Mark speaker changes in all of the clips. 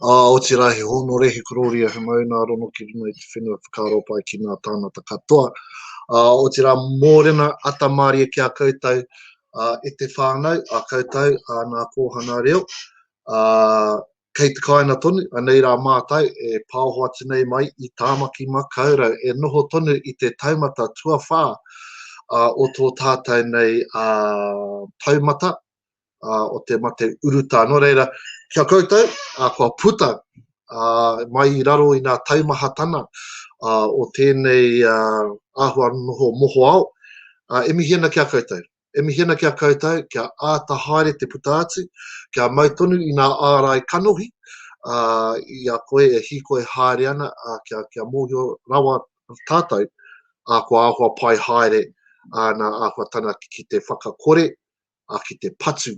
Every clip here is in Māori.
Speaker 1: Ā, otirā he hōnore, he korōria, he mauna rono ki runga i te whenua whakaaro pai ki ngā tāngata katoa. Ā, otirā mōrena atamārie ki a koutou, ā, e te whānau, a koutou, ā, ngā kōhanga reo, ā, kei te kāinga tonu, anei rā mātou e pāoho atu nei mai i Tāmaki Makaurau, e noho tonu i te taumata tuawhā, ā, o tō tātou nei, ā, taumata, uh, o te mate urutā. Nō reira, kia koutou, uh, kua puta uh, mai i raro i ngā taumahatana uh, o tēnei uh, āhua noho moho ao, uh, e mihi ana kia koutou. E mihi ana kia koutou, kia āta haere te puta atu, kia mau tonu i ngā ārai kanohi, uh, i a koe e hīkoi haere ana, uh, kia, kia mōhio rawa tātou, uh, kua āhua pai haere ana āhua tana ki te whakakore, ā, ki te patu,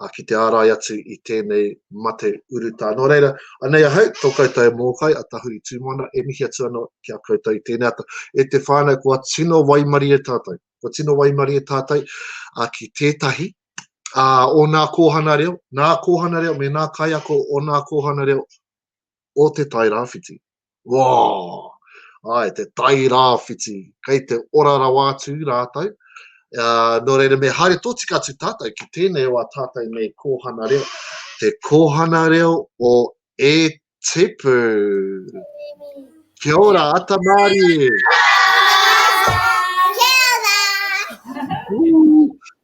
Speaker 1: ā, ki te ārai atu i tēnei mate urutā. Nō reira, anei ahau, tō koutou e mōkai, a Tahuri Tūmoana, e mihi atu ana ki a koutou i tēnei ata. E te whānau, kua tino waimarie tātou, kua tino waimarie tātou ki tētahi o nā kōhana reo, nā kōhana reo me nā kaiako o nā kōhana reo o Te Tai Rāwhiti. Woo! Ae, Te Tai Rāwhiti, kei te ora rawa atu rātou. Uh, nō reira, me haere tōtika atu tātou ki tēnei o a tātou nei kōhana reo. Te kōhana reo o E Tipu. Kia ora, ata mārie!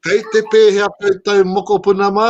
Speaker 1: Kei te pēhea koutou mokopuna mā?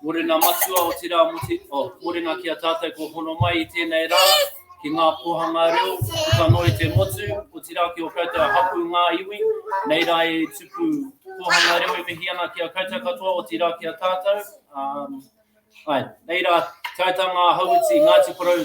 Speaker 2: Mōrena Matua, otirā muti, oh, mōrena ki a tātou kua hono mai i tēnei rā, ki ngā pōhanga reo, puta noa i te motu, otirā ki o koutou hapū ngā iwi, nei rā e tupu pōhanga reo e mihi ana ki a koutou katoa, otirā ki a tātou. Um, ai, nei rā, tātā ngā hauiti, Ngāti Porou,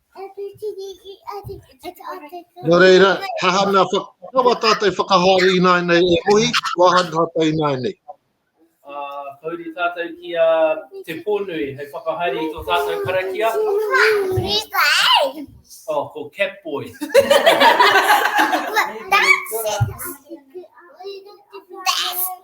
Speaker 1: Nō reira, hahana, kawa tātou whakahaere i nāi nei e Ohi, wāha tātou i nāi nei.
Speaker 2: Kauri tātou ki a Te Pōnui hei whakahaere i tō tātou karakia. Oh, ko Cat Boy. That's it.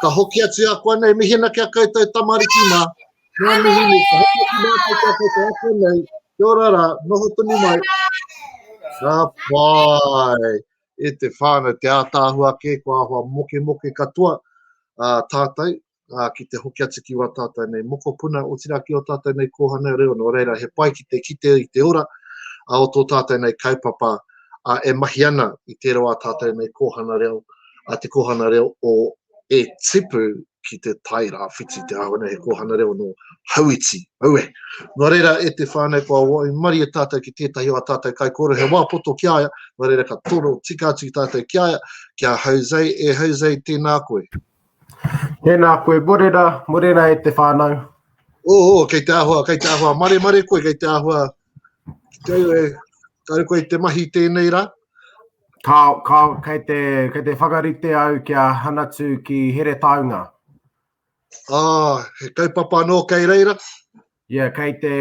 Speaker 1: Ka hoki atu a koa nei, mihina ki a koutou tamariki ma, nga mihi nei, ka hoki atu mātou ki a koutou a koa nei, kia ora ra, noho tonu mai. Ka pai, e te whānau, te ātaahua kē, kua ahua moke moke katoa a tātou, a, ki te hoki atu ki wā tātou nei mokopuna, otira ki o tātou nei kōhana reo, nō reira he pai ki te kite i te ora, a o tō tātou nei kaupapa, a e mahi ana i te reo a tātou nei kōhana reo, a te Kōhanga Reo o E Tipu ki te Tai Rāwhiti, te āhua nei he Kōhanga Reo nō Hauiti, aue. Nō reira, e te whānau, kua waimarie tātou ki tētahi o ā tātou kaikōrero, he wā poto ki a ia, nō reira, ka toro tika atu ki tātou ki a ia, ki a Jose, e Jose, tēnā koe. Tēnā
Speaker 3: koe, morena, morena e te whānau. Oho, kei
Speaker 1: te āhua, kei te āhua, maremare koe, kei te āhua, Kei e, kare koe te mahi tēnei rā? Ka, ka,
Speaker 3: kei te, kei te whakarite au ki a Hanatu ki Heretaunga. Ah,
Speaker 1: he kaupapa anō kei reira? Ia, yeah, kei te,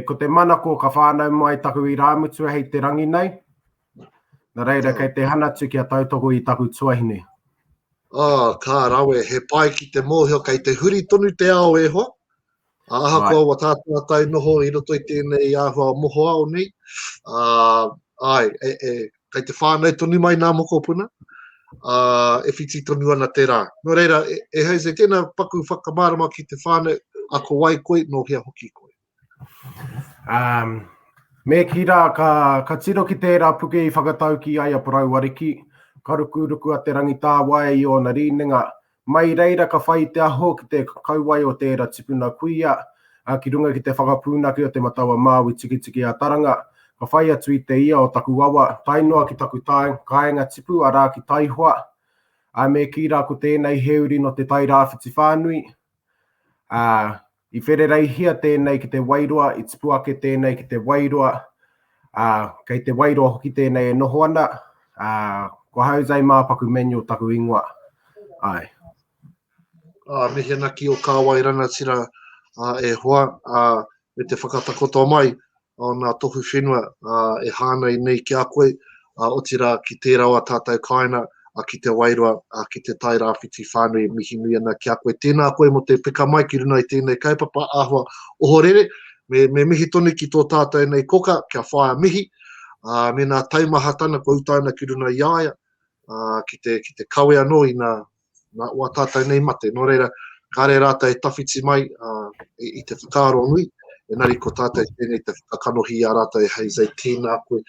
Speaker 3: ko te manako ka whānau mai taku i rāmutua hei te rangi nei. Na reira, oh. kei te Hanatu ki a tautoko i taku tuahine. Ah,
Speaker 1: ka rawe, he pai ki te mōhio kei te huri tonu te ao e hoa. Ā, ahakoa ua tātātai noho i roto i tēnei āhua mohoao nei, ā, āe, e, e, kei te whānau tonu mai nā mokopuna, ā, e whiti tonu ana te rā. Nō reira, e, e Jose, tēnā paku whakamārama ki te whānau, a ko wai koe, nō hea hoki koe? Um,
Speaker 3: me ki rā, ka, ka tiro ki tērā puke i whakatauki ai a Parau Ariki, ka rukuruku a Te Rangitāwae i ōna rīnenga, Mai reira ka whai te aho ki te kauae o tēra tipuna kuia, a ki runga ki te whakapūnake o te matawa māui tikitiki a Taranga, ka whai atu i te ia o taku awa, tae noa ki taku tae, kāenga tipu arā ki Taihoa, a me kī rā ko tēnei he uri no te Tairāwhiti whānui, a. I wherereihia tēnei ki te wairua, i tipu ake tēnei ki te wairua, ā, kei te wairua hoki tēnei e noho ana, ā, ko Jose Māpaku Manuel taku ingoa. Āe.
Speaker 1: Ā, mihi ana ki ō kāwai rangatira, ā, e hoa, ā, me te whakatakoto mai, o ngā tohu whenua e hāngai nei ki a koe, otirā ki tērā o ā tātou kāinga ki Te Wairoa, ki Te Tai Rāwhiti whānui, mihi nui ana ki a koe. Tēnā koe mō te peka mai ki runga i tēnei kaupapa āhua ohorere, me mihi tonu ki tō tātou nei koka, kia whaia mihi, mēnā taumahatana kua uta ana ki runga i a ia, ki te kawe anō i ngā nā wā tātou nei mate. Nō reira, kāre rātou e tawhiti mai i te whakaaro nui, engari ko tātou tēnei te whakakanohi i a rātou e Jose, tēnā koe.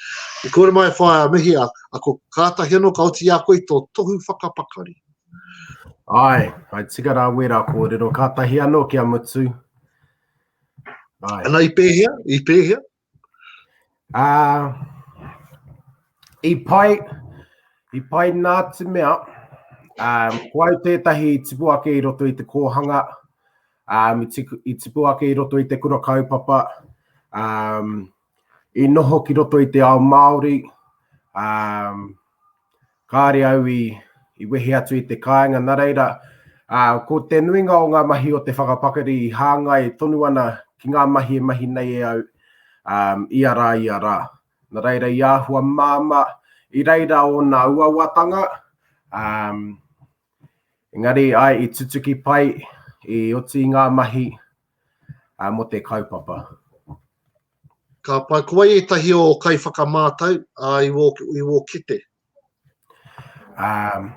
Speaker 1: I kore mai e whaia mihi, a, a ko kātahi anō ka oti a koe i tō tohu whakapakari.
Speaker 3: Ai, ai tika rā wērā kōrero, kātahi anō kia mutu. Ai.
Speaker 1: Ana i pēhea, i pēhea? Ā,
Speaker 3: i pai, i pai nā te mea, um, ko au tētahi i tipu ake i roto i te kōhanga, um, i, tiku, i tipu ake i roto i te kura kaupapa, um, i noho ki roto i te ao Māori, um, kāre au i, i wehe atu i te kāinga, nā reira, ā, ko te nuinga o ngā mahi o te whakapakari i hāngai tonu ana ki ngā mahi e mahi nei e au, ā, ia rā, ia rā. Nā reira, i āhua māmā, i reira ōna uauatanga, ā, engari, āe, i tutuki pai, i oti i ngā mahi, ā, mō te kaupapa.
Speaker 1: Ka pai, ko wai ētahi o kai whakamātau a i wō, i wō kete? Um,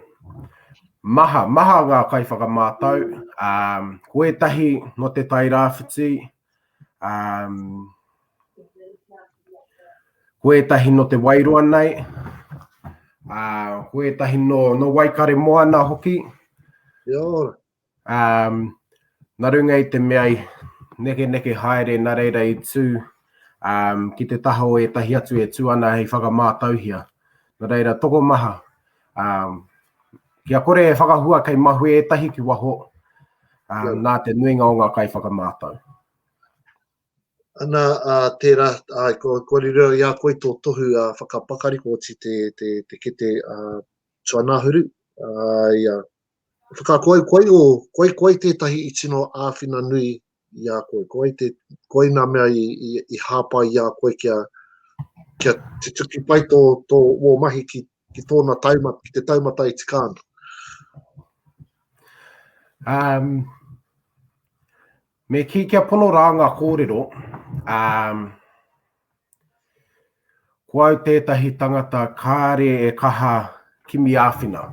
Speaker 3: maha, maha ngā kai whakamātau. Um, ko ētahi no te tai rāwhiti, um, ko ētahi no te wairoa nei, uh, ko ētahi no, no Waikare Moana hoki. Ia ora.
Speaker 1: Um,
Speaker 3: na runga i te mea i neke neke haere na reira i tu um, ki te taha o etahi atu e tu ana hei whakamātauhia. Na reira, toko maha. Um, kia kore e whakahua kei mahue etahi ki waho, um, nā te nuinga o ngā kai whakamātau.
Speaker 1: Ana, a, tērā, a, ko, ko rira i a koe tō tohu a whakapakari, ko oti te, te, te kete a, tuanahuru, a, ia, Whakakoikoi ō, koikoi tētahi i tino āwhina nui i a koe, koe, te, koe nā mea i, i, i hāpai i a koe kia, kia te tuki pai tō, tō wō mahi ki, ki tōna taumata, ki te taumata i tika ana. Um,
Speaker 3: me ki kia pono rā ngā kōrero, um, Ko au tētahi tangata kāre e kaha kimi āwhina.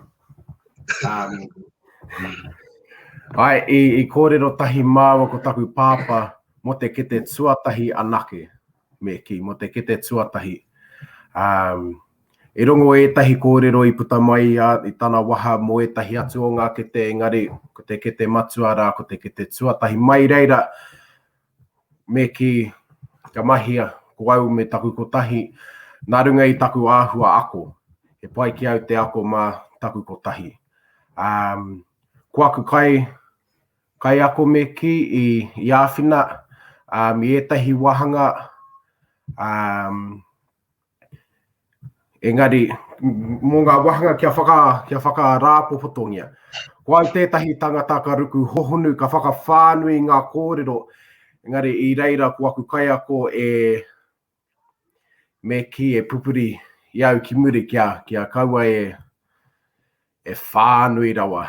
Speaker 3: Ai, i, i kōrero tahi māua ko taku pāpā mō te kete tuatahi anake, me ki, mō te kete tuatahi. Um, e rongo ētahi kōrero i puta mai a, i tana waha mō ētahi atu o ngā kete, engari ko te kete matua rā, ko te kete tuatahi. Mai reira, me kī, Kia mahia, ko au me taku kotahi, nā runga i taku āhua ako, he pai ki au te ako mā taku kotahi. Ā, ko aku kai, kaiako me kī, i, i āwhina, ā, i ētahi wāhanga, ā, Engari, mō ngā wāhanga kia, whaka, kia whakarāpopotongia, ko au tētahi tangata ka ruku hohonu, ka whakawhānui i ngā kōrero, engari i reira ko aku kaiako e me kī, e pupuri i au ki muri kia, kia kaua e, e whānui rawa.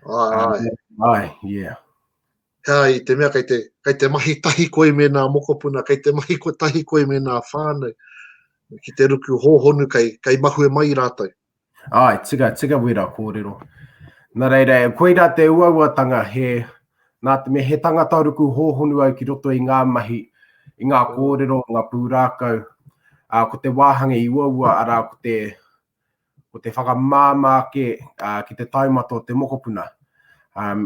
Speaker 3: Ai, ai. Ai, yeah. Heā, i
Speaker 1: te mea kei te, kei te mahi tahi koe me nā mokopuna, kei te mahi ko tahi koe me nā whānau, ki te ruku hōhonu kei, kei mahue mai rātou. Ai, tika,
Speaker 3: tika wera kōrero. Nā reira, e koirā te uauatanga he, nā te mea he tangata ruku hōhonu au ki roto i ngā mahi, i ngā kōrero, ngā pūrākau, ā, ko te wāhanga i uaua, arā, ko te, ko te whakamāmā ake ki te taumata o te mokopuna.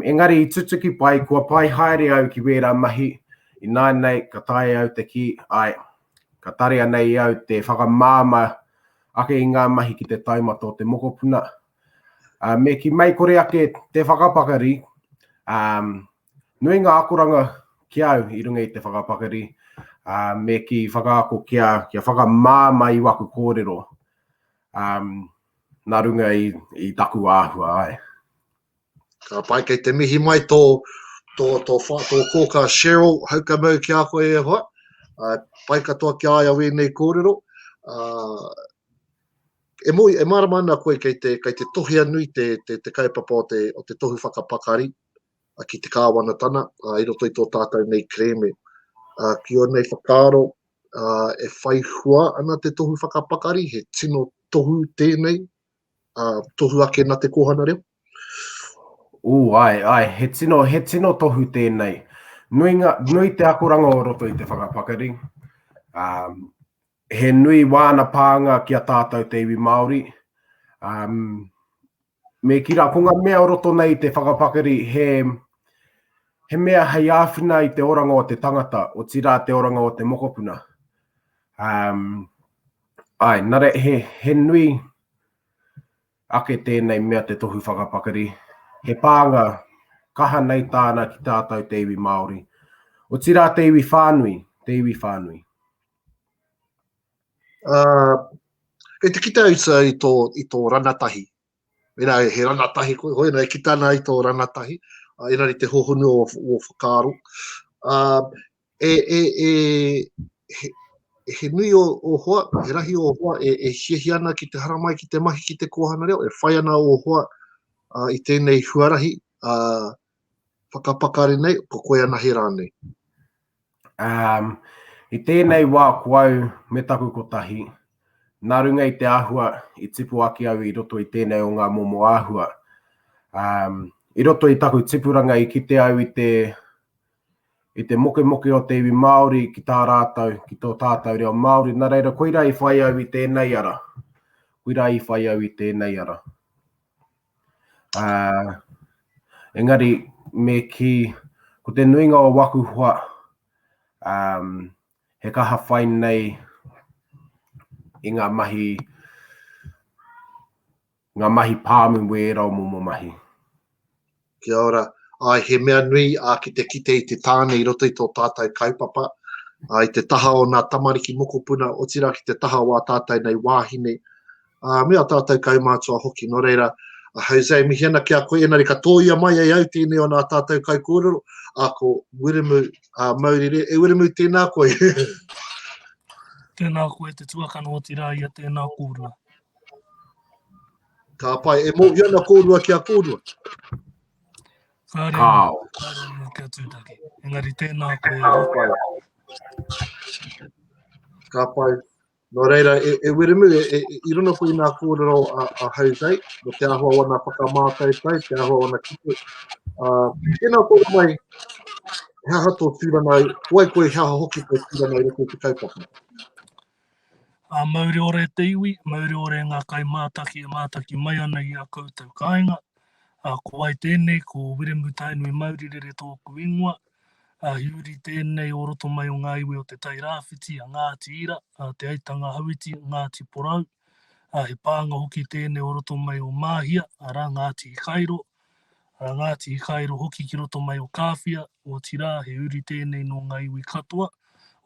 Speaker 3: Engari i tutuki pai, kua pai haere au ki wērā mahi, ināinei ka taea au te kī, āe, ka tarea nei i au te whakamāmā ake i ngā mahi ki te taumata o te mokopuna. Me ki mei kore ake te whakapakari, Nui ngā akoranga ki au i runga i te whakapakari, ā, me kī whakaako kia, kia whakamā mai i waku kōrero, ā, nā runga i, i taku āhua ai. Ka
Speaker 1: pai, kei te mihi mai tō, tō, tō, tō, tō kōkā Cheryl Haukamau ki a koe e hoa. Uh, pai katoa ki a ia wēnei kōrero. Uh, e, mo, e marama ana koe kei te, kei te tohea nui te, te, te kaupapa o te, o te tohu whakapakari, ki te Kāwanatana i roto i tō tātou nei kerēme. Ki ōnei whakaaro, e whai hua ana te tohu whakapakari, he tino tohu tēnei, tohu ake nā te kōhanga reo? Ū, āe,
Speaker 3: āe, he tino, he tino tohu tēnei. Nui, ngā, nui te akoranga o roto i te whakapakari. Um, he nui wāna pānga ki a tātou te iwi Māori. Um, Me kī rā, ko ngā mea o roto nei i te whakapakari he, he mea hei āwhina i te oranga o te tangata, otirā te oranga o te mokopuna. Um, ai, nare, he, he nui ake tēnei mea te tohu whakapakari. He pānga kaha nei tāna ki tātou te iwi Māori. Otirā te iwi whānui, te iwi whānui.
Speaker 1: Ā, kei te kite uta i tō, i tō ranatahi. Mēnā he ranatahi koe, hoi anō e kita ana i tō ranatahi, ā, engari te hohonu o, o whakaaro. Ā, e, e, e, he, he nui o, o hoa, he rahi o hoa e, e hiahia ana ki te haramai, ki te mahi, ki te kōhanga reo, e whai ana o hoa ā, i tēnei huarahi, ā, whakapakari nei, ko koe anahe rānei? Um,
Speaker 3: i tēnei wā ko au me taku kotahi, nā runga i te āhua i tipu ake au i roto i tēnei o ngā momo āhua. Um, i roto i taku tipuranga i kite au i te i te mokemoke o te iwi Māori ki tā rātou, ki tō tātou reo Māori. Nā reira, koira i whai au i tēnei ara. Koira i whai au i tēnei ara. Ā, engari me kī, ko te nuinga o waku hoa, ā, he kaha whai nei i ngā mahi, ngā mahi pāmu me ērā o momo mahi.
Speaker 1: Kia ora. Āe, he mea nui ā ki te kite i te tāne i roto i tō tātou kaupapa, ā, i te taha o nā tamariki mokopuna, otirā ki te taha o ā tātou nei wāhine, ā, me ā tātou kaumātua hoki. Nō reira, a Jose, mihi ana ki a koe, engari ka tōia mai e au tēnei o nā tātou kaikōrero, ā, ko Wiremu ā, Maurire. E Wiremu, tēnā koe. Tēnā
Speaker 4: koe te tuakana, otirā ia tēnā kōrua.
Speaker 1: Ka pai, e mōhio ana kōrua ki a kōrua. Ka reo,
Speaker 4: Kāo. ka reo kia tūtaki. Engari tēnā koe. Ka pai.
Speaker 1: Ka
Speaker 4: pai.
Speaker 1: Nō reira, e, e Wiremu, e, e, i runga koe i ngā kōrero a, a Hautei, mo te ahua wana whakamātaitai, te ahua wana kipu. Uh, tēnā kōra mai, he aha tō tūranga, koe koe he aha hoki tō tūranga i rako te kaupapa? A mauri
Speaker 4: ore te iwi, mauri ore ngā kai mātaki e mātaki mai ana i a koutou kāinga. A ko wai tēnei, ko Wiremu Tainui Mauri Rere tōku ingoa, Ā, i uri tēnei o roto mai o ngā iwi o Te Tai Rāwhiti, a Ngāti Ira, a Te Aitanga Hauiti, Ngāti Porou, ā, he pānga hoki tēnei o roto mai o Māhia, arā, Ngāti Hikairo, arā, Ngāti Hikairo hoki ki roto mai o Kāwhia, otirā, he uri tēnei nō ngā iwi katoa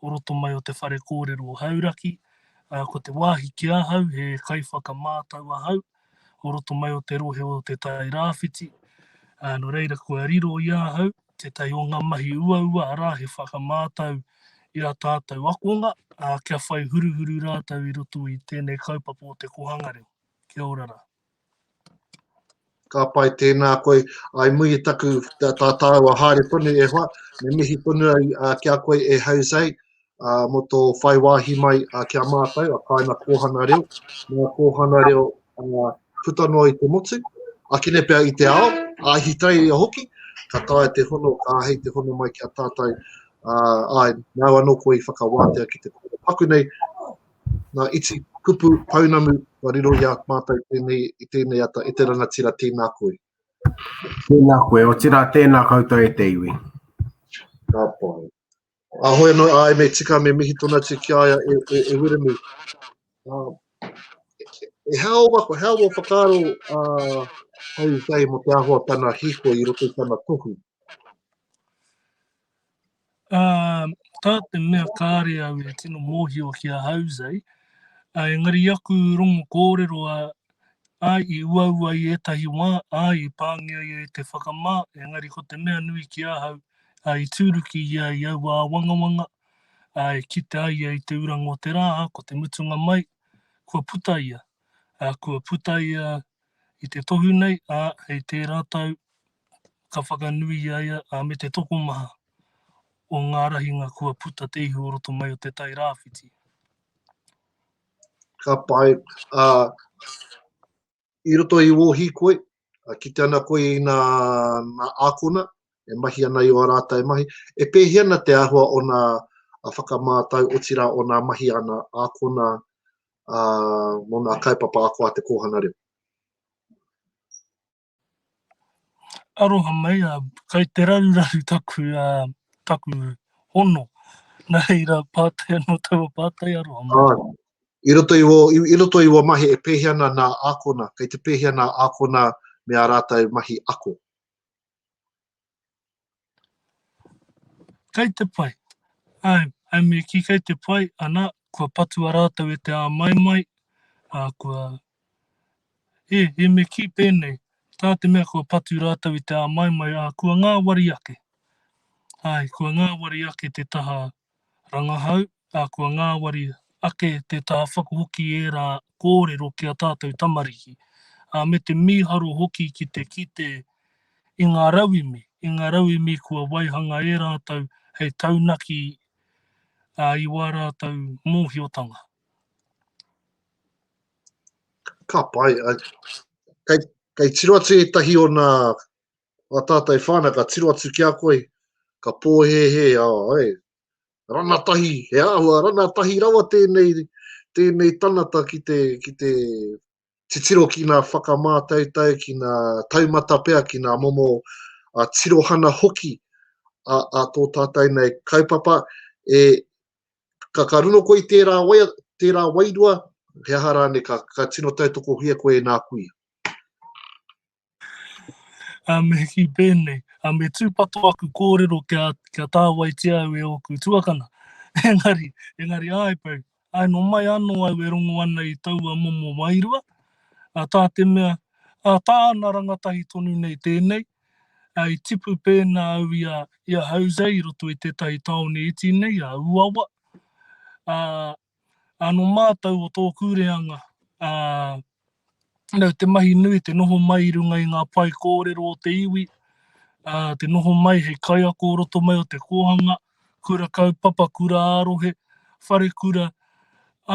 Speaker 4: o roto mai o te whare kōrero o Hauraki, ā, ko te wāhi ki ahau he kaiwhakamātau ahau, o roto mai o te rohe o Te Tai Rāwhiti, ā, nō reira kua riro i ahau tētahi o ngā mahi uaua, arā, he whakamātau i ā tātou akonga, ā, kia whai huruhuru rātou i roto i tēnei kaupapa o te kōhanga reo. Kia ora rā.
Speaker 1: Ka pai, tēnā koe. I muri i taku tā tāua haere tonu e hoa, me mihi tonu au ki a koe e Jose. ā, mō tō whai wāhi mai ki a mātou, a Kāina Kōhana Reo, nā Kōhana Reo puta noa i te motu, ake nei pea i te ao, Ahitereiria hoki, ka taea te hono, ka āhei te hono mai ki a tātou, ā, āe, nāu anō koe i whakawātea ki te kōrero paku nei, nā, iti kupu pounamu kua riro i a mātou tēnei, i tēnei ata, e te rangatira, tēnā koe. Tēnā
Speaker 3: koe, otirā tēnā koutou e te iwi. Ka
Speaker 1: pai. A hoi anō, āe me tika me mihi tōna atu ki a ia e, e, e Wiremu. Uh, e hao wa, ko hao wa whakaaro uh, hei whai mo te ahoa tana hiko i roto i tana tohu. Uh,
Speaker 4: tā te mea kāre au e tino mōhio ki a Jose, uh, engari aku rongo kōrero a Ā, i uaua i ētahi wā, ā, i pāngia ia e te whakamā, engari ko te mea nui ki ahau, ā, i tūruki ia i aua āwangawanga, ā, e kite ai ia i te uranga o te rā, ā, ko te mutunga mai, kua puta ia, ā, kua puta ia i te tohu nei, ā, hei tērā tau ka whakanui i a ia, ā, me te tokomaha o ngā rahinga kua puta te ihu o roto mai o te Tai Rāwhiti.
Speaker 1: ka pai, ā, i roto i wō hīkoi, kite ana koe i nā ākona e mahi ana i ō rātou mahi, e pēhea ana te āhua o nā whakamātau, otirā, o nā mahi a nā ākona mō nā kaupapa ako a te kōhanga reo.
Speaker 4: Aroha mai, kai te raruraru taku, taku hono, nā reira pātai anō taua pātai, aroha mai. Āe, i roto i ō,
Speaker 1: i roto i ua mahi e pēhea ana nā ākona, kei te pēhea nā ākona me ā rātou mahi ako?
Speaker 4: Kai te pai. Ai, ai me ki kai te pai, ana, kua patua rātou e te āmaimai, ā, kua... E, e me ki pēnei, tā te mea kua patu rātou i te āmaimai, ā, kua ngāwari ake. Ai, kua ngāwari ake te taha Rangahau, ā, kua ngāwari ake te tāwhaku hoki ērā kōrero ki a tātou tamariki, ā, me te mīharo hoki ki te kite i ngā rauemi, i ngā rauemi kua waihanga e rātou hei taunaki i wā rātou mōhiotanga.
Speaker 1: Ka pai. Kei tiro atu ētahi o nā Ngā tātai whānau ka tiro atu ki a koe, ka pōhēhē, ā, e, rana tahi, he āhua rana tahi rawa tēnei, tēnei tanata ki te, ki te titiro ki ngā whakamātautau, ki ngā taumata pea, ki ngā momo a tirohana hoki a, a tō tātai nei kaupapa. E, ka, ka runo koe i tērā, wai, tērā wairua, he aha rāne ka, ka tino tautokohia koe e nā kuia?
Speaker 4: a me hiki pēnei, a me tūpato aku kōrero kia, kia tāwaitia au e ōku tuakana. Engari, engari ai pau, ai no mai anō au e rongo ana i taua momo wairua, a tā te mea, a tā ana rangatahi tonu nei tēnei, a i tipu pēnā au i a, i a Jose i roto i tētahi tāone iti nei, a Uawa, a, Ā, nō mātou o tōku reanga, ā, nau te mahi nui te noho mai i runga i ngā pae kōrero o te iwi, ā, te noho mai hei kaiako o roto mai o te kōhanga, kura kaupapa, kura ā-rohe, whare kura,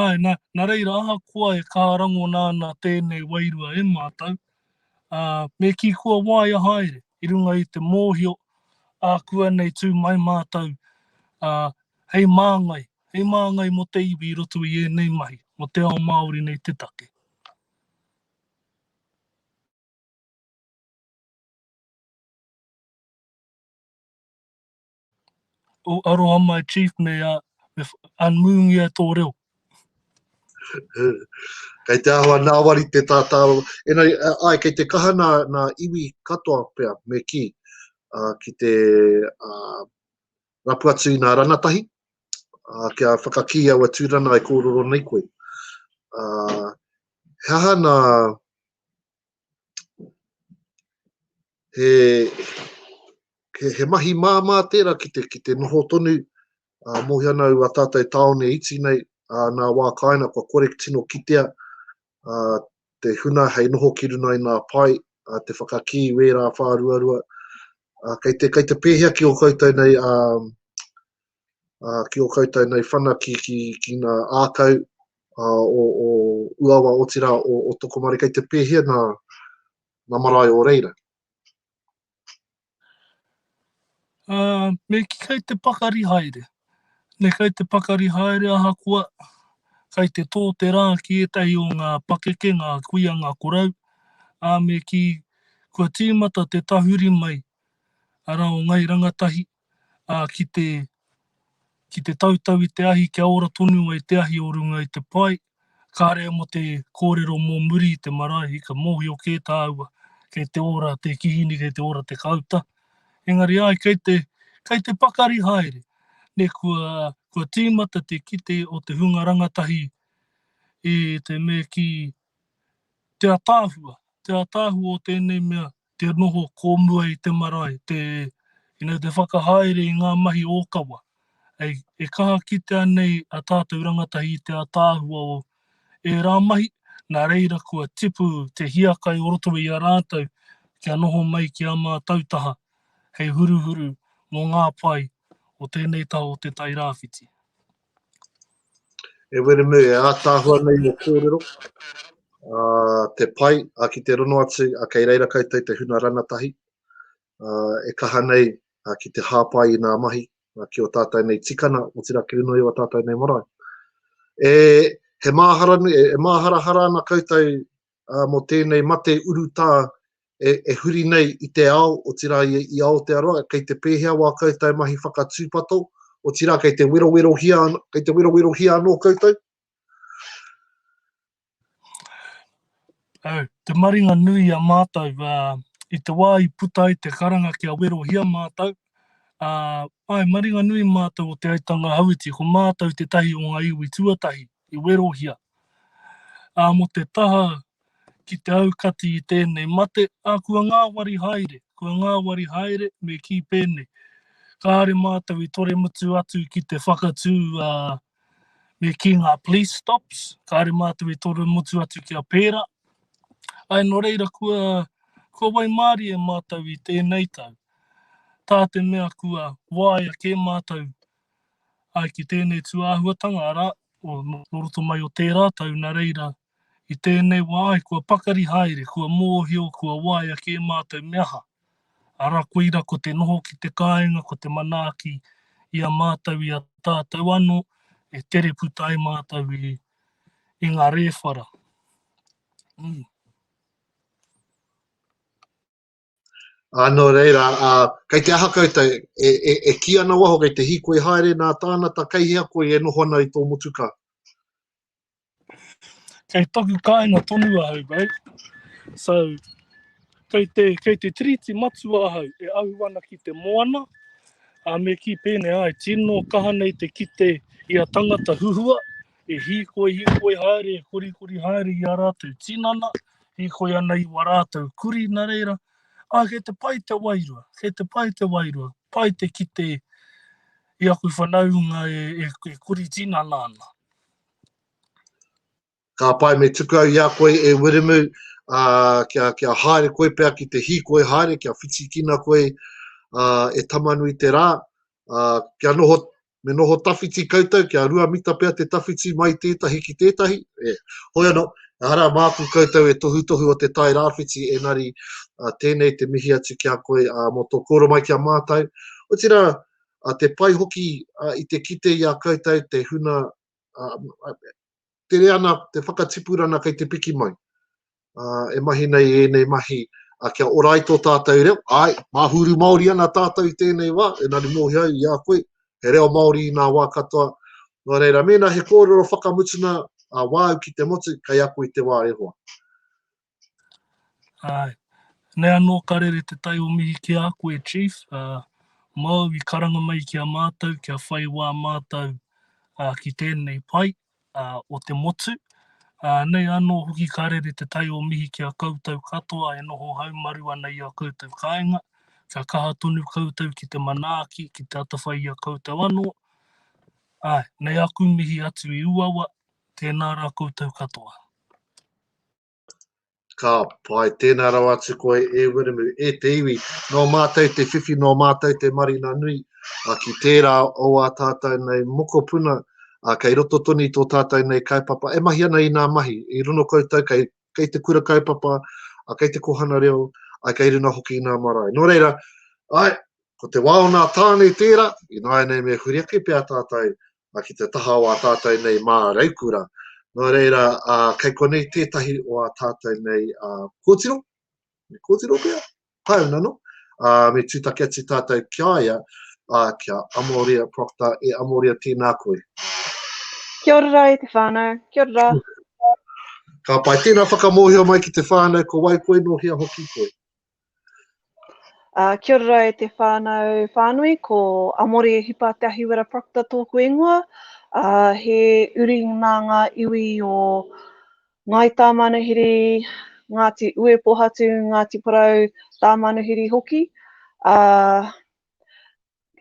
Speaker 4: āe nā, nā reira ahakoa e kaha rangona ana tēnei wairua e mātou, ā, me kī kua waia haere i runga i te mōhio ākuanei tū mai mātou, ā, hei māngai Hei māngai mō te iwi i roto i ēnei mahi, mō te ao Māori nei te take. Oh, aroha mai Chief, me, uh, me unmoongia e tō reo.
Speaker 1: kei te ahua nāwari te tātāro. Enei, ai, kei te kaha nā, nā iwi katoa pea, me ki, uh, ki te, uh, rapu atu i nā rangatahi, uh, kia whakakī aua tūrana e kōroro nei koe. Uh, he aha nā he, he, he mahi māmā tērā ki te, ki te noho tonu uh, mōhia nau a tātou tāone iti nei uh, nā wā kāina kua korek tino kitea te huna hei noho ki runga i ngā pae, te whakakī i wērā whāruarua. Kei te, kei te pēhea ki o koutou nei, ki o koutou nei whanaki ki, ki ngā ākau o, o Uawa, otirā o, o Tokomaru, kei te pēhea ngā, ngā marae o reira?
Speaker 4: Me kī kei te pakari haere. Me kei te pakari haere ahakoa, kei te tō te rā ki ētahi o ngā pakeke, ngā kuia, ngā korau, ā, me kī, kua tīmata te tahuri mai, arā, o Ngai Rangatahi, ā, ki te, ki te tautau i te ahi kia ora tonu ai te ahi o runga i te pae, Kāre mō te kōrero mō muri i te marae, ka mōhio kē tāua kei te ora te kihini, kei te ora te kāuta. Engari āe, kei te, kei te pakari haere. Ne, kua, kua tīmata te kite o te hunga rangatahi i te me ki te ataahua, te ataahua o tēnei mea te noho kōmua i te marae, te, you know, te whakahaere i ngā mahi ōkawa. Hei, e kaha kitea nei a tātou rangatahi i te ātaahua o ērā mahi, nā reira kua tipu te hiakai o roto i a rātou kia noho mai ki ā mātou taha hei huruhuru mō ngā pae o tēnei taha o Te Tai Rāwhiti.
Speaker 1: E Wiremu, e ātaahua nei ō kōrero, ā, te pai, ā, ki te rono atu, ā, kei reira koutou te huna ranatahi, ā, e kaha nei, ā, ki te hāpai i nā mahi, ā, ki o tātou nei tikana, otirā ki runga i o tātou nei marae. E, he māhara, e māharahara ana koutou mō tēnei mate urutā e huri nei i te ao, otirā i Aotearoa, kei te pēhea wā koutou mahi whakatūpato, otirā kei te werowerohia, kei te werowerohia anō koutou?
Speaker 4: Te maringa nui i a mātou, i te wā i puta ai te karanga kia werohia mātou, āe, maringa nui mātou o Te Aitanga Hauiti, ko mātou tētahi o ngā iwi tuatahi I werohia, ā, mō te taha ki te aukati i tēnei mate, ā, kua ngāwari haere, kua ngāwari haere, me kī pēnei, kāore mātou i toremutu atu ki te whakatū, ā, me kī ngā police stops, kāore mātou i toremutu atu kia pērā. Āe, nō reira, kua, kua waimārie mātou i tēnei tau, tā te mea kua waea kē mātou Āe ki tēnei tūāhuatanga, arā, o nō roto mai o tērā tau, nā reira, i tēnei wā ai kua pakari haere, kua mōhio, kua waea kē mātou me aha, arā, koira ko te noho ki te kāinga, ko te manaaki i a mātou, i a tātou anō, e tere puta ai mātou i, i ngā rēwhara.
Speaker 1: Ā, nō reira, ā, kei te aha koutou, e, e, e kī ana waho kei te hīkoi haere nā tānata kei hea koe e noho ana i tō motukā?
Speaker 4: Kei toku kāinga tonu ahau, babe. So, kei te, kei te tiriti matua ahau e ahu ana ki te moana, a me ki pēnei ai, tino kaha nei te kite i a tangata huhua, e hīkoi, hīkoi haere, e korikori haere i a rātou tinana, hīkoi ana i wā rātou kurī, nā reira, ā, kei te pai te wairua, kei te pai te wairua, pai te kite i aku whanaunga e, e, e kurī tinana ana.
Speaker 1: Ka pai me tuku au i a koe e Wiremu, uh, kia, kia haere koe pea ki te hīkoi haere, kia whitikina koe uh, e tamanui te rā, uh, kia noho me noho tawhiti koutou, kia rua mita pea te tawhiti mai tētahi ki tētahi, e, hoi anō, ehara māku koutou e tohutohu o te Tai Rāwhiti, engari tēnei te mihi atu ki a koe mō tō kōrero mai ki a mātou, otirā, te pai hoki i te kite i a koutou te huna, tere ana te whakatipurana kei te piki mai. Uh, e mahi nei ēnei mahi a kia orai tō tātou reo, ai, māhuru Māori ana tātou i tēnei wā, e nari mōhi au i a koe, he reo Māori i nā wā katoa. Nō reira, mēnā he kōrero whakamutuna a wāu ki te motu, kei ako i te wā e hoa.
Speaker 4: Ae. Nei anō ka rere te tai o mihi ki a koe, Chief, ā, māu i karanga mai ki a mātou kia whai wā mātou ā, ki tēnei pae ā, o te motu, ā, nei anō hoki ka rere te tai o mihi ki a koutou katoa e noho haumaru ana i ā koutou kāinga, kia kaha tonu koutou ki te manaaki, ki te atawhai i a koutou anō. Ae. Nei aku mihi atu i Uawa, tēnā rā koutou katoa.
Speaker 1: Ka pai, tēnā rawa atu koe e Wiremu, e te iwi, nō mātou te whiwhi, nō mātou te marina nui, a ki tērā o ā tātou nei mokopuna, a kei roto tonu i tō tātou nei kaupapa, e mahi ana i nā mahi, i rono koutou kei, kei te kura kaupapa, a kei te kohana reo, ai kei runga hoki i nā marae. Nō reira, ai, ko te wā o nā tāne tērā, ināianei me huri ake pea tātou a ki te taha o a tātou nei mā Reikura. Nō reira, a, kei konei tētahi o a tātou nei a, kōtiro, me kōtiro pia, pāuna no, a, me tūtaki atu tātou ki a ia, a, kia Amoria Proctor, e Amoria tēnā koe. Kia
Speaker 5: ora rā e te whānau, kia ora rā.
Speaker 1: Ka pai, tēnā whakamōhio mai ki te whānau, ko wai koe, nō hea hoki koe. Uh,
Speaker 5: kia ora e te whānau whānui, ko Amore Hipa Te Ahiwera Proctor tōku ingoa. Uh, he uri nā ngā iwi o Ngāi Tāmanuhiri, Ngāti Uepohatu, Ngāti Porou, Tāmanuhiri hoki. Uh,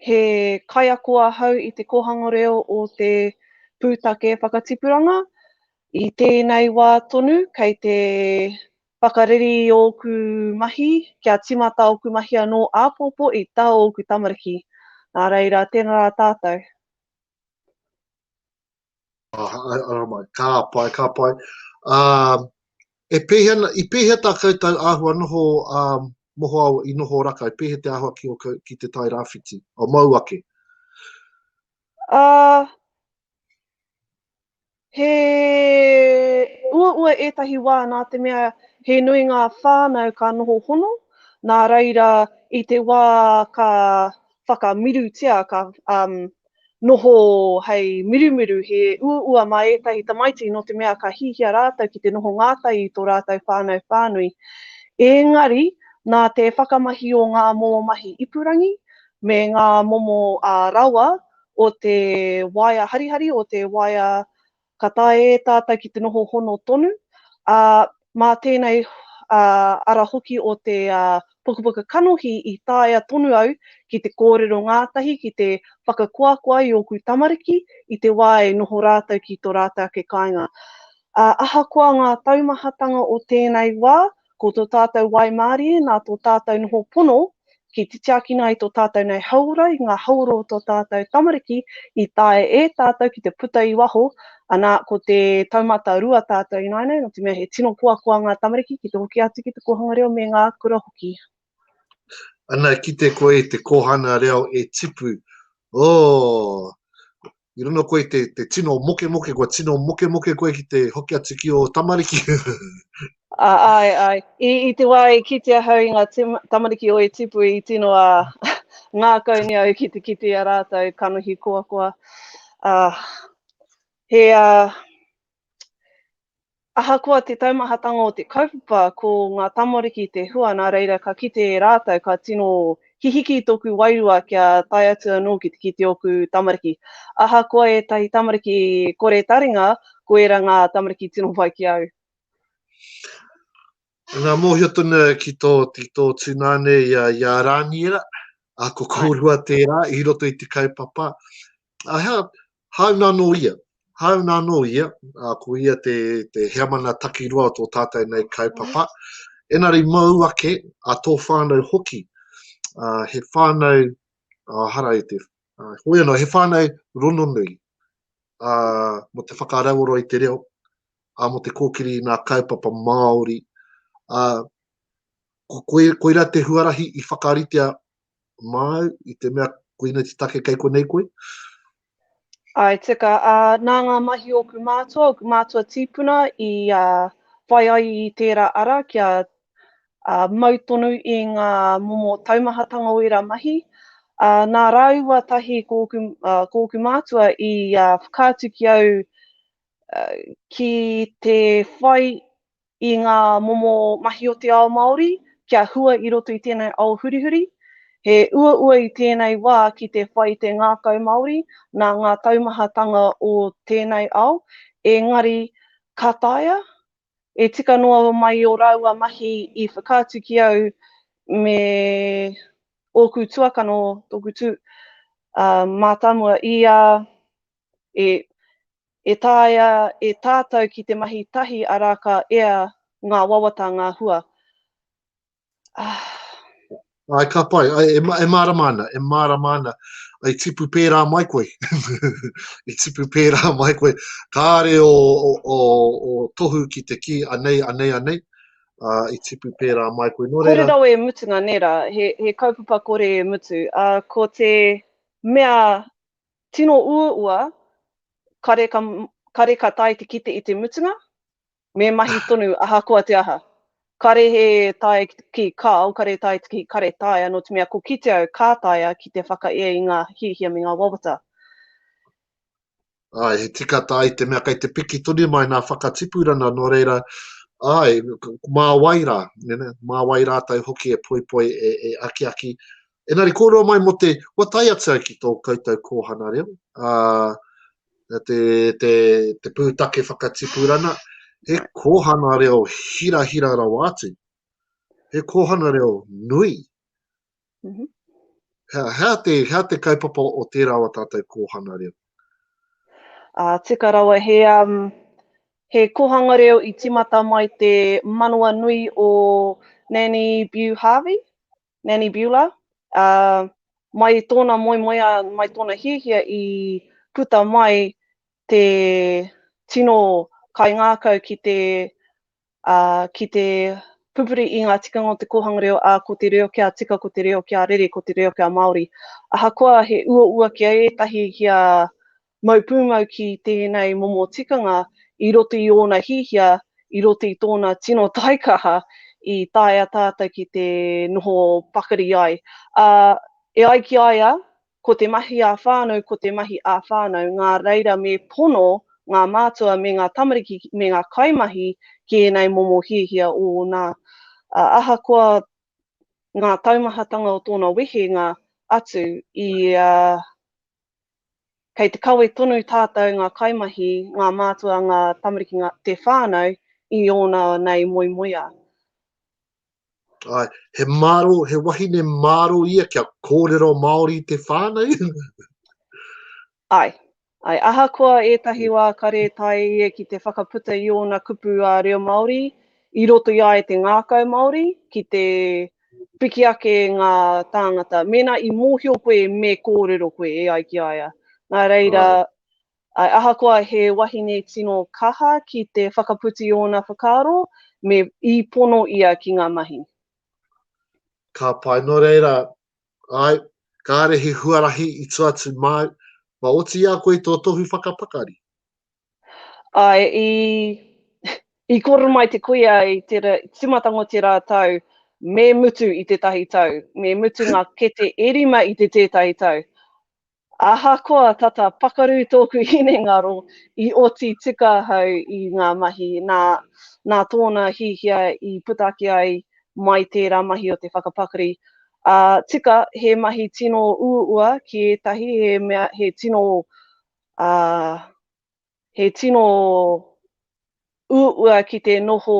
Speaker 5: He kaiako ahau i te kōhanga reo o te pūtake whakatipuranga. I tēnei wā tonu, kei te whakareri i ōku mahi kia tīmata ōku mahi anō āpōpō i tā ōku tamariki. Nā reira, tēnā rā tātou.
Speaker 1: Aramai, ka pai, ka pai. Um, e pēhea, i pēhea tā koutou āhua noho um, mohoao i noho raka, i pēhea te āhua ki, o, ki te tai rāwhiti, o mau ake? Uh,
Speaker 5: he uaua ētahi wā nā te mea he nui ngā whānau ka noho hono, nā reira i te wā ka whakamirutia, ka um, noho hei mirumiru, he uaua mā ētahi tamaiti nō te mea ka hihia rātou ki te noho ngātahi i tō rātou whānau whānui. Ēngari, nā te whakamahi o ngā momo mahi ipurangi me ngā momo uh, rawa o te waea harihari, o te waea ka taea e tātou ki te noho hono tonu, ā, mā tēnei ara hoki o te pukapuka kanohi i taea tonu au ki te kōrero ngātahi, ki te whakakoakoa i ōku tamariki i te wā e noho rātou ki tō rātou ake kāinga. Ā, ahakoa ngā taumahatanga o tēnei wā, Ko tō tātou waimārie nā tō tātou noho pono ki te tiakina ai tō tātou nei hauora i ngā hauora o tō tātou tamariki i taea e tātou ki te puta i waho, anā, ko te taumata rua tātou ināianei nō te mea he tino koakoa ngā tamariki ki te hoki atu ki te kōhanga reo me ngā kura hoki.
Speaker 1: Ana kite koe i te kohana reo e tipu, oh, i rono koe te, te tino moke moke, kua tino moke moke koe ki te hoki atu ki o tamariki. a,
Speaker 5: ai, ai. I, I te wā e kite ahau i ngā tamariki o e tipu i tino a ngā kauni au ki te kite a rātou kanohi koa koa. A, he, a, Ahakoa te taumahatanga o te kaupapa ko ngā tamariki te hua nā reira ka kite e rātou ka tino hihiki tōku wairua kia tae atu anō ki te kite ōku tamariki. Ahakoa ētahi tamariki kore taringa, ko ērā ngā tamariki tino pai ki au.
Speaker 1: Ngā mōhio tonu ki tō tūnane i a Rāniera, ko kōrua tērā i roto i te kaupapa. Aha, hāuna anō ia? Hāuna anō ia, ā, ko ia te, te heamana takiroa o tō tātou nei kaupapa. Enari mau ake, a tō whānau hoki, ā, he whānau, ā, hara i te, ā, hoi anō, he whānau rononui, ā, mo te whakarauora i te reo, ā, mo te kōkiri i nā kaupapa Māori, ā, ko, koe, koira te huarahi i whakaritea māu i te mea koinei te take kei konei koe?
Speaker 5: I tika, ā, nā ngā mahi o ōku mātua, ōku mātua tīpuna i whai ai i tērā ara kia mau tonu i ngā momo taumahatanga o ērā mahi. Nā rāua tahi ko ōku, ko ōku mātua i whakaatu ki au ki te whai i ngā momo mahi o te ao Māori kia hua i roto i tēnei ao hurihuri. He uaua i tēnei wā ki te whai te ngākau Māori nā ngā taumahatanga o tēnei ao, engari ka taea? E tika noa mai ō rāua mahi i whakaatu ki au me ōku tuakana o tōku tū mātāmua, i a, e, E taea e tātau ki te mahi tahi arā ka ea ngā wawata ngā hua.
Speaker 1: Ahh. Ai ka pai, ai e, e mārama ana, e mārama ana, ai tipu pērā mai koe, i tipu pērā mai koe, kāre o, o, o, o tohu ki te kī, anei, anei, anei, uh, i tipu pērā mai koe. Nō reira... Kōrero e mutunga nē
Speaker 5: rā, he, he kaupapa kore e mutu, uh, ko te mea Tino uaua, kare ka, kare ka tae te kite i te mutunga, me mahi tonu ahakoa te aha. Kare he tae ki kao, kare tae ki kare taea, nō te mea ko kite au ka taea ki te whakaea i ngā hiahia me ngā wawata.
Speaker 1: Āe, he tika tā i te mea kei te piki tonu mai nā whakatipurana, nō reira, āe, mā wai rā, mā wai rātou hoki e poipoi, e, e akiaki, Engari kōrero mai mō te, kua tae atu au ki tō koutou kōhana reo, ā, te, te, te pūtake whakatipurana, he kōhana reo hirahira rawa atu. He kōhana reo nui. Mm -hmm.
Speaker 5: hea,
Speaker 1: hea, te, hea te kaupapa o tērā o tātou kōhana reo?
Speaker 5: Uh, tika rawa, he, um, he kōhanga reo i timata mai te manawa nui o Nanny Bew Harvey. Nanny Bula, ā, mai tōna moemoeā, mai tōna hiahia i puta mai te tino kaingākau ki te, ā, ki te pupuri i ngā tikanga o te kōhanga reo, ā, ko te reo kia tika, ko te reo kia rere, ko te reo kia Māori. Ahakoa he uaua ki a ētahi kia Mau pūmau ki tēnei momo tikanga i roto i ōna hiahia, i roto i tōna tino taikaha i taea tātou ki te noho pakari ai. Ā, e ai ki a ia, ko te mahi ā-whānau ko te mahi ā-whānau, ngā reira me pono ngā mātua me ngā tamariki me ngā kaimahi ki ēnei momo hiahia ōna. Ā, ahakoa ngā taumahatanga o tōna wehenga atu i a Kei te kawe tonu tātou ngā kaimahi, ngā mātua, ngā tamariki, ngā, te whānau i ōna nei moemoeā.
Speaker 1: Ai, he māro, he wahine māro ia kia kōrero Māori te whānau? ai,
Speaker 5: ai, ahakoa ētahi wā ka rētaia ia ki te whakaputa i ōna kupu ā reo Māori, i roto i a ia te ngākau Māori, ki te Piki ake ngā tāngata, mēnā i mōhio koe me kōrero koe e ai ki a ia. Nā reira, āe, ahakoa he wahine tino kaha ki te whakaputa i ōna whakaaro, me i pono ia ki ngā mahi.
Speaker 1: Ka pai, nō reira, āe, kāre he huarahi i tua atu māu, mā oti i a koe tō tohu whakapakari.
Speaker 5: Āe, i, i koro mai te kuia i te ra, tīmatanga o te rā tau, me mutu i tētahi tau, me mutu ngā kete e rima i te tētahi tau. Ahakoa tata pakaru tōku hinengaro, i oti tika ahau i ngā mahi, nā, nā tōna hiahia i puta ake ai mai tērā mahi o te whakapakari. Ā, tika, he mahi tino uaua ki ētahi, he mea, he tino ā, he tino uaua ki te noho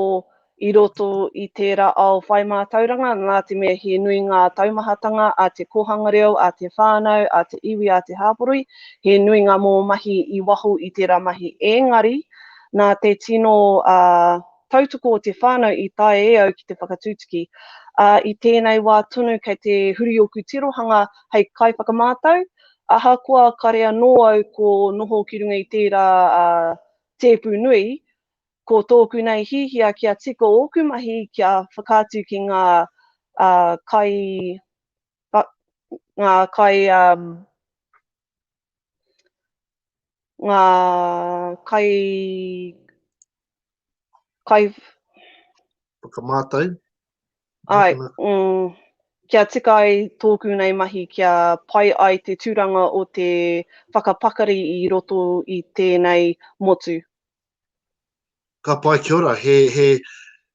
Speaker 5: i roto i tērā ao whai mātauranga, nā te mea he nui ngā taumahatanga a te kōhanga reo, a te whānau, a te iwi, a te hāporoi, he nui ngā momo mahi i waho i tērā mahi, ēngari, nā te tino tautoko o te whānau i taea e au ki te whakatutuki, ā, i tēnei wā tonu kei te huri ōku tirohanga hei kaiwhakamātau, Ahakoa kare anō au ko noho ki runga i tērā tēpu nui, ko tōku nei hihia kia tika ōku mahi kia whakaatu ki ngā kai ngā kai ngā
Speaker 1: kai kai. Whakamātau. Ai, mm,
Speaker 5: kia tika ai tōku nei mahi kia pai ai te tūranga o te whakapakari i roto i tēnei motu.
Speaker 1: Ka pai, kia ora. He, he,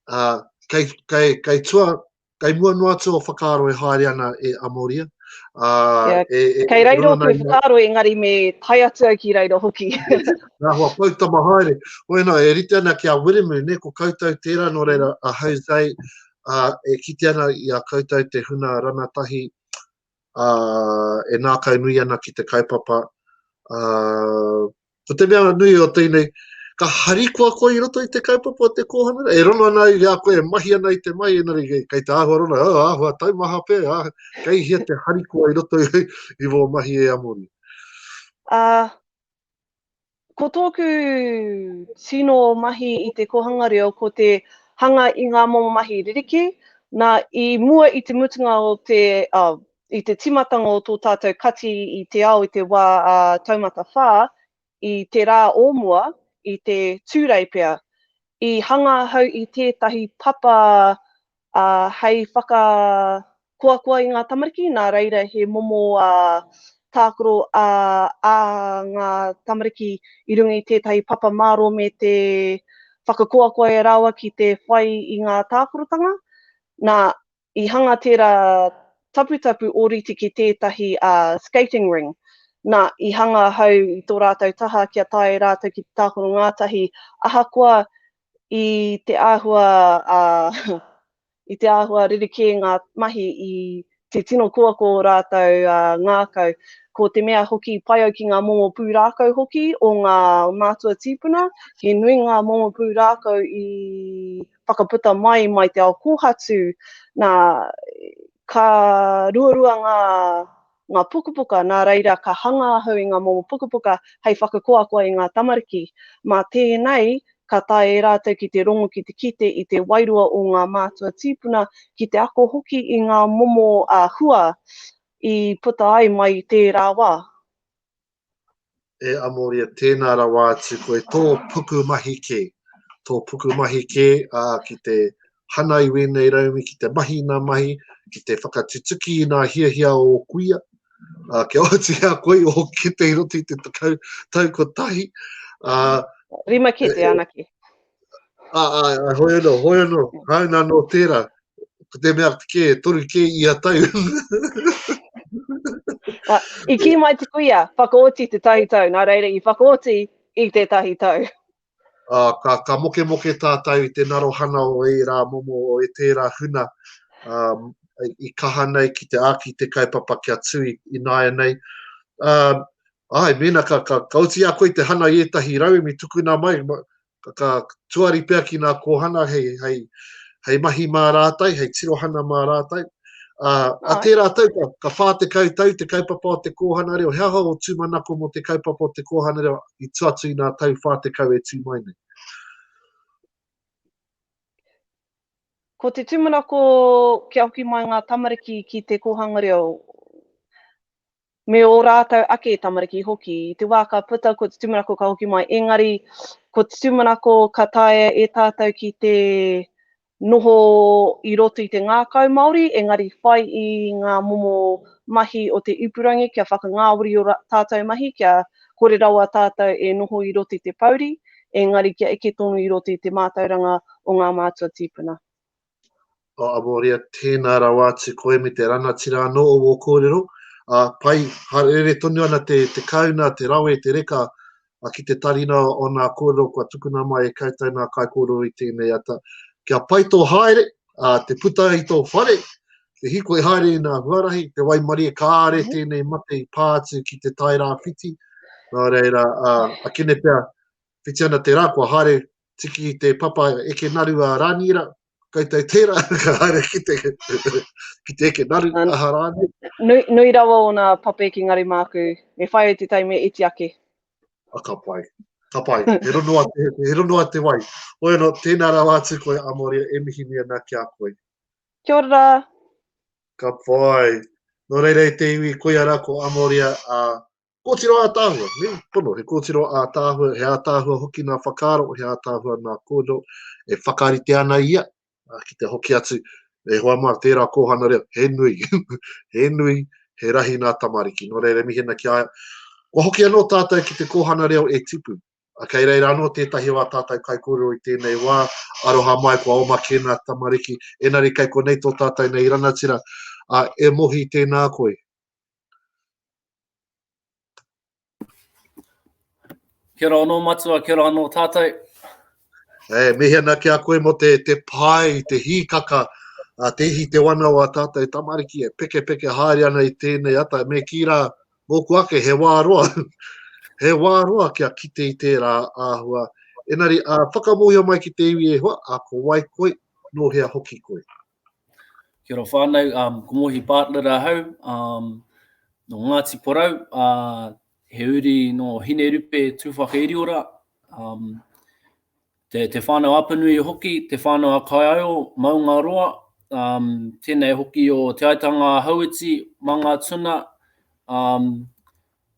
Speaker 1: uh, kei, kei, kei tua, kei mua noa atu o whakaaro e haere ana e Amoria. Uh,
Speaker 5: yeah. e, e, kei reiro o te whakaaro, engari me tai atu au ki reiro hoki. Nga hoa
Speaker 1: poutama haere. Hoi no, e rite ana ki a Wiremu, ne, ko koutou tera no reira a Jose, a, e kite ana i a koutou te huna ranatahi, a, e nakau nui ana ki te kaupapa, a, ko te mea nui o teinei, ka harikoa koe i roto i te kaupapa o te kōhanga e rono ana i a koe, e mahi ana i te mai, enari kei, kei te āhua rono, oh, āhua taumaha pē, ah, kei hia te harikoa i roto i, i wō mahi e Amori. Ā, uh,
Speaker 5: Ko tōku tino mahi i te kōhanga reo ko te hanga i ngā momo mahi ririki, nā, i mua i te mutunga o te, oh, i te tīmatanga o tō tātou kati i te ao i te wā a Taumata Whā, i te rā o mua, i te Tūrei pea, i hanga ahau i tētahi papa ā, hei whakakoakoa i ngā tamariki, nā reira he momo tākaro ā ngā tamariki i runga i tētahi papa mārō me te whakakoakoa e rāua ki te whai i ngā tākarotanga. Nā, i hanga tērā taputapu ōrite ki tētahi skating ring. Nā, i hanga ahau i tō rātou taha kia tae rātou ki te tākaro ngātahi, ahakoa I te āhua, ā, i te āhua rerekē ngā mahi i te tino kōako o rātou ngākau. Ko te mea hoki pai au ki ngā momo pūrākau hoki o ngā mātua tīpuna, he nui ngā momo pūrākau i whakaputa mai mai te ao kōhatu, nā, ka ruarua ngā ngā pukapuka, nā reira ka hanga ahau i ngā momo pukapuka hei whakakoakoa i ngā tamariki. Mā tēnei, ka tae e rātou ki te rongo ki te kite i te wairua o ngā mātua tīpuna, ki te ako hoki i ngā momo hua i puta ai mai i tērā wā.
Speaker 1: e Amoria, tēnā rawa atu koe, tō pukumahi kē, tō pukumahi kē, ā, ki te hana i wēnei raumi, ki te mahi i nā mahi, ki te whakatutuki i nā hiahia o ō kuia, ā, kia oti a koe i ō kete i roto i te tekau tau kotahi. Ā.
Speaker 5: Rima kete anake. Ā, ā,
Speaker 1: ā, hoi anō, hoi anō, hai nā nō tērā, ko te mea kē, toru kē i a tau. Wa,
Speaker 5: I kī mai te kuia, whakaoti te tahi tau, nā reira i whakaoti i te tahi tau. Ā, ka,
Speaker 1: ka moke moke tātou i te narohana o e rā momo o e tērā huna, ā, i kaha nei ki te āki te kaupapa kia tui i nāianei. Ā, Āe, mēnā ka, ka, ka oti a koe te hana i ētahi rauemi tukuna mai, ka, ka tuari pea ki ngā kōhana hei, hei, hei mahi mā rātai, hei tirohana mā rātai. A, a tērā tau, ka, ka whā te kautau, te kaupapa o te kōhana reo, he aha o tūmanako mō te kaupapa o te kōhana reo i tuatu i nā tau whā te kau e tū mai nei?
Speaker 5: Ko te tūmanako kia hoki mai ngā tamariki ki te kōhanga reo, me ō rātou ake tamariki hoki. I te wā ka puta ko te tūmanako ka hoki mai, engari ko te tūmanako ka taea e tātou ki te noho i roto i te ngākau Māori, engari whai i ngā momo mahi o te ipurangi kia whakangāwari ō tātou mahi, kia kore rawa tātou e noho i roto i te pouri, engari kia eke tonu i roto i te mātauranga o ngā mātua tīpuna. O oh,
Speaker 1: Amoria, tēnā rawa atu koe me te rangatira anō o wō kōrero. A, pai, harere tonu ana te, te kauna, te rawe, te reka, a ki te tarina o nā kōrero kua tukuna mai e koutou nā kai kōrero i tēnei ata. Kia pai tō haere, a, te puta i tō whare, te hiko i haere i nā huarahi, te waimarie kāre mm. tēnei mate i pā atu ki te tairā whiti. Nā reira, a, a kene pia, whiti ana te rā, kua haere tiki i te papa eke naru a Rāniera, kai tai tērā, ka haere ki te, ki te eke naru a Rāniera. Nui, nui rawa
Speaker 5: ōna pape ki Ngarimāku, me whai au te tai me iti ake. A ka pai,
Speaker 1: ka pai, he rono a te, he rono a te wai. Hoi anō, tēnā rawa atu koe a Moria, e mihi nei ana ki a koe. Kia ora rā.
Speaker 5: Ka
Speaker 1: pai. Nō reira i te iwi koia rā ko Amoria a Kōtiro ātaahua, me pono, he kōtiro ātaahua, he ātaahua hoki nā whakaaro, he ātaahua nā kōrero, e whakarite ana ia ki te hoki atu, e hoa mā, tērā kōhana reo, he nui, he nui, he rahi nā tamariki. Nō reira, mihena ki a ia. Kua hoki anō tātou ki te kōhana reo e tipu, a kei reira anō tētahi o a tātou kai kōrero i tēnei wā, aroha mai kua oma kē nā tamariki, enari kei konei tō tātou nei ranatira, a e mohi tēnā koe.
Speaker 2: Kia ora anō matua, kia ora anō tātou. E,
Speaker 1: mihi ana ki a koe mo te, te pai, te hīkaka, a te ihi te wana o a tātou tamariki e peke peke haere ana i tēnei ata, me kī rā, mōku ake, he wā roa, he wā roa kia kite i tērā āhua. Enari, a, whakamohio mai ki te iwi e hoa, a ko wai koe, nō hea hoki koe. Kia
Speaker 2: ora whānau, um, ko Mohi Partner ahau, um, no Ngāti Porou, uh, he uri no Hinerupe Tūwhakairiora, um, te, te whānau Apanui hoki, te whānau a Kaiaio, Maungaroa, um, tēnei hoki o Te Aitanga a Hauiti, Mangatuna, um,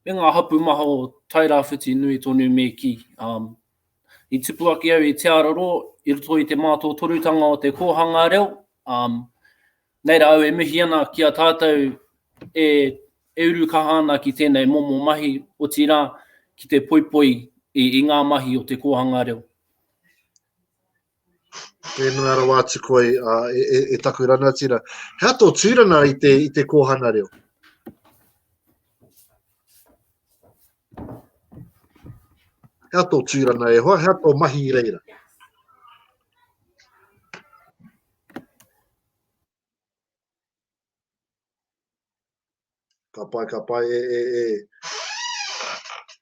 Speaker 2: me ngā hapu maha o Tairāwhiti nui tonu me ki, um, I tupu ake au i Te Aroro i roto i te mātotorutanga o te kōhanga reo, um, nei rā au e mihi ana ki a tātou e, e uru kaha ana ki tēnei momo mahi, otirā ki te poipoi i, i ngā mahi o te kōhanga reo.
Speaker 1: Whenua rawa atu koe e, e, e taku ranatira. He ato tūrana i te, i te kōhana reo? He ato tūrana e hoa, he ato mahi i reira. Ka pai, ka pai, e, e, e.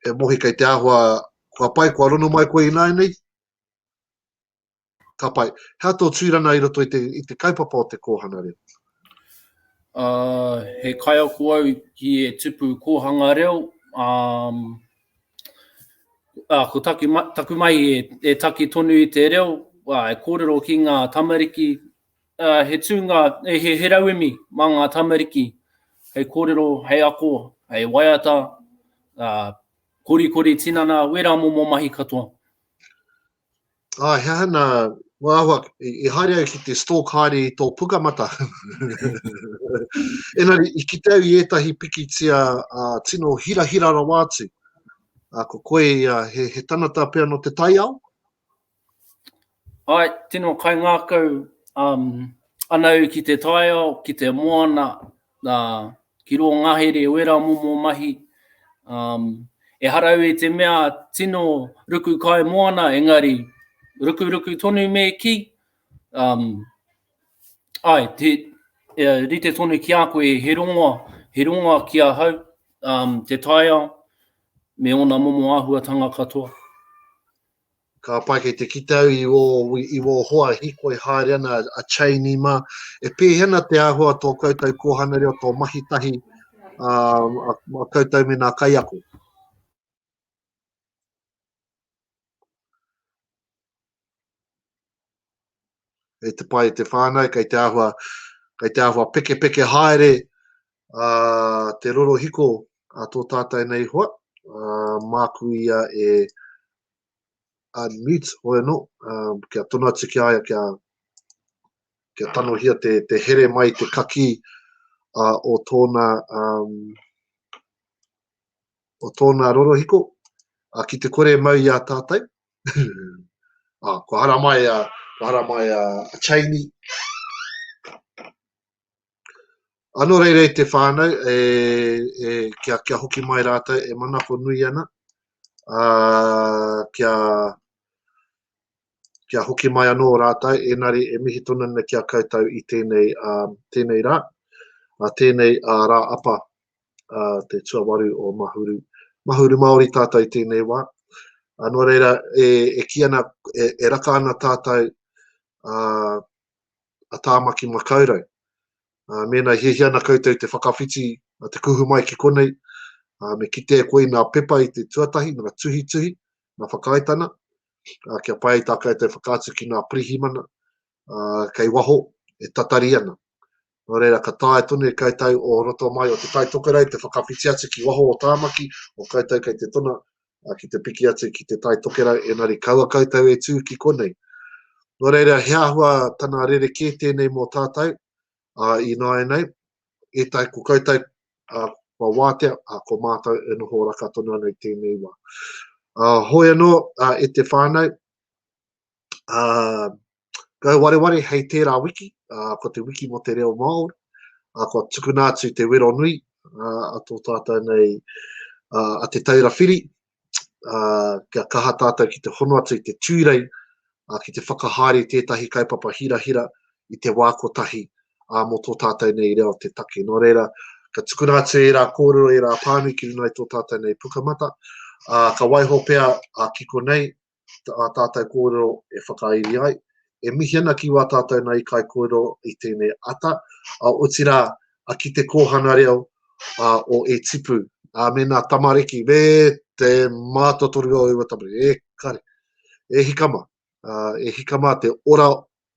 Speaker 1: E mohi kei te ahua, kua pai, kua rono mai koe i nāi nei? Ka pai. Hea tō tūrana i roto i te, i te kaupapa o te kōhana reo? Uh,
Speaker 2: he kaiako au ki e tupu kōhanga reo. Um, uh, ko taki, taku mai e, e taki tonu i te reo, uh, e kōrero ki ngā tamariki. Uh, he tūnga, he, he rauemi mā ngā tamariki hei kōrero, hei ako, hei waiata, uh, korikori tinana, wērā momo mahi katoa.
Speaker 1: Ā, he aha nā ngā āhua i haere au ki te stalk haere i tō pukamata? Engari, i kite au i ētahi pikitia tino hirahira rawa atu. Ā, ko koe ia, he tangata pea nō te taiao?
Speaker 2: Āe, tino kaingākau ana au ki te taiao, ki te moana, ki rō ngahere wera momo mahi, ehara au i te mea tino ruku kai moana engari rukuruku tonu me kī, āe, e rite tonu ki a koe he rongoa, he rongoa ki ahau te taiao me ōna momo āhuatanga katoa.
Speaker 1: Ka pai kei te kite au i ō, i ō hoa hikoi haere ana a Cheney mā, e pēhea ana te āhua tō koutou kōhanga reo, tō mahi tahi a, a, a koutou me nā kaiako? e te pai te whānau, kei te āhua, kei te āhua peke peke haere a te rorohiko a tō tātai nei hoa, uh, māku ia e unmute hoi anō, uh, kia tono atu ki aia, kia, kia tanohia te, te here mai te kaki uh, o tōna um, o tōna rorohiko, uh, ki te kore mau i a tātai, ah, kua hara mai a, kua hara mai a, a Chaini. Ano reirei te whānau, e, e, kia, kia hoki mai rātou e manako nui ana, uh, kia, kia hoki mai anō rātou, enari e mihi tonu ana kia koutou i tēnei, uh, tēnei rā, uh, tēnei uh, rā apa uh, te tuawaru o Mahuru. Mahuru Māori tātou i tēnei wā. Uh, nō reira, e, e ki ana, e, e raka ana tātou uh, a Tāmaki Makaurau. Uh, mēnā hiahia ana koutou te whakawhiti uh, te kuhu mai ki konei, uh, me kite e koe i nā pepa i te tuatahi, nā tuhituhi, nā whakaaetana, uh, kia pai tā koutou whakaatu ki nā pirihimana, uh, kei waho, e tatari ana. Nō reira, ka tae tonu e koutou o roto mai o te Tai Tokerau, te whakawhiti atu ki waho o Tāmaki, o koutou kei te tona uh, ki te piki atu ki te Tai Tokerau, enari kaua koutou e tū ki konei. Nō reira, he ahua tana rere kē tēnei mō tātou, uh, i nāi nei, e tai ko koutou, uh, kua wātea, uh, ko mātou e noho raka tonu ana i tēnei wā. Uh, hoi anō, uh, e te whānau, uh, Ngau Wareware hei tērā wiki, uh, ko te wiki mo te reo Māori, uh, ko tukuna atu te wero nui uh, a tō tātou nei uh, a te taura whiri, uh, kia kaha tātou ki te hono atu i te tūrei, uh, ki te whakahaere tētahi kaupapa hirahira i te wā kotahi uh, mo tō tātou nei reo te take. Nō reira, ka tukuna atu e rā kōrero, e rā pānui ki runai tō tātou nei pukamata, uh, ka waiho pea uh, ki konei, ki ā tātou kōrero e whakairi ai. E mihi ana ki wā tātou nā ikai kōrero i tēnei ata, otirā ki te kōhanga reo o E Tipu. Ā, mēnā tamariki, me te mātotoru o ua tamariki, e kare, e hika mā, e hika mā te ora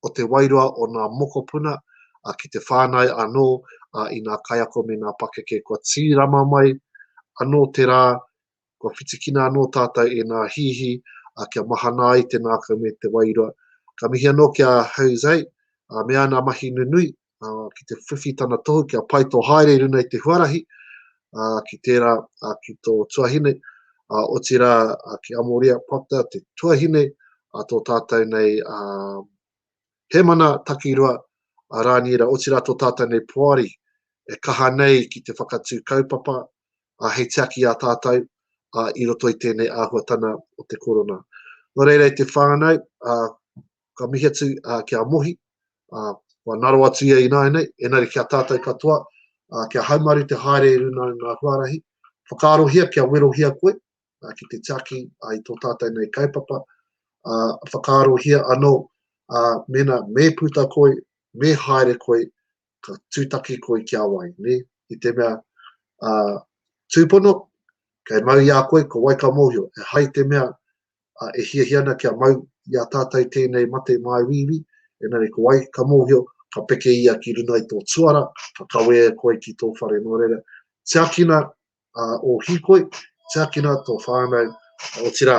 Speaker 1: o te wairua o nā mokopuna ki te whānau anō i nā kaiako me nā pakeke kua tīrama mai anō te rā Kua whitikina anō tātou e nā hihi a kia mahana ai te nākau me te wairua. Ka mihi anō ki a Jose, a mea ana mahi nunui, a, ki te whiwhi tana tohu kia pai tō haere i runa i te huarahi, a, ki tērā, a, ki tō tuahine, a, otirā, a, ki Amoria Proctor, te tuahine a tō tātou nei a, Hemana Takirua, a Rāniera, otirā tō tātou nei poari, e kaha nei ki te whakatū kaupapa, ā, hei tiaki i a tātou, ā, i roto i tēnei āhuatana o te korona. Nō reira i te whānau, ā, ka mihi atu ā, ki a Mohi, ā, kua naro atu ia ināianei, engari ki a tātou katoa, ā, kia haumaru te haere i runga i ngā huarahi, whakaarohia kia werohia koe, ā, ki te tiaki ā, i tō tātou nei kaupapa, ā, whakaarohia anō, ā, mēnā me puta koe, me haere koe, ka tūtaki koe ki a wai, nē? I te mea, ā, tūpono, kei mau i a koe, ko wai ka mōhio, e hai te mea, ā, e hiahia ana kia mau i a tātou tēnei mate māuiui, engari ko wai ka mōhio, ka peke ia ki runga i tō tuara, ka kawē e koe ki tō whare nō reira. Tiakina ō hīkoi, tiakina tō whānau, otirā,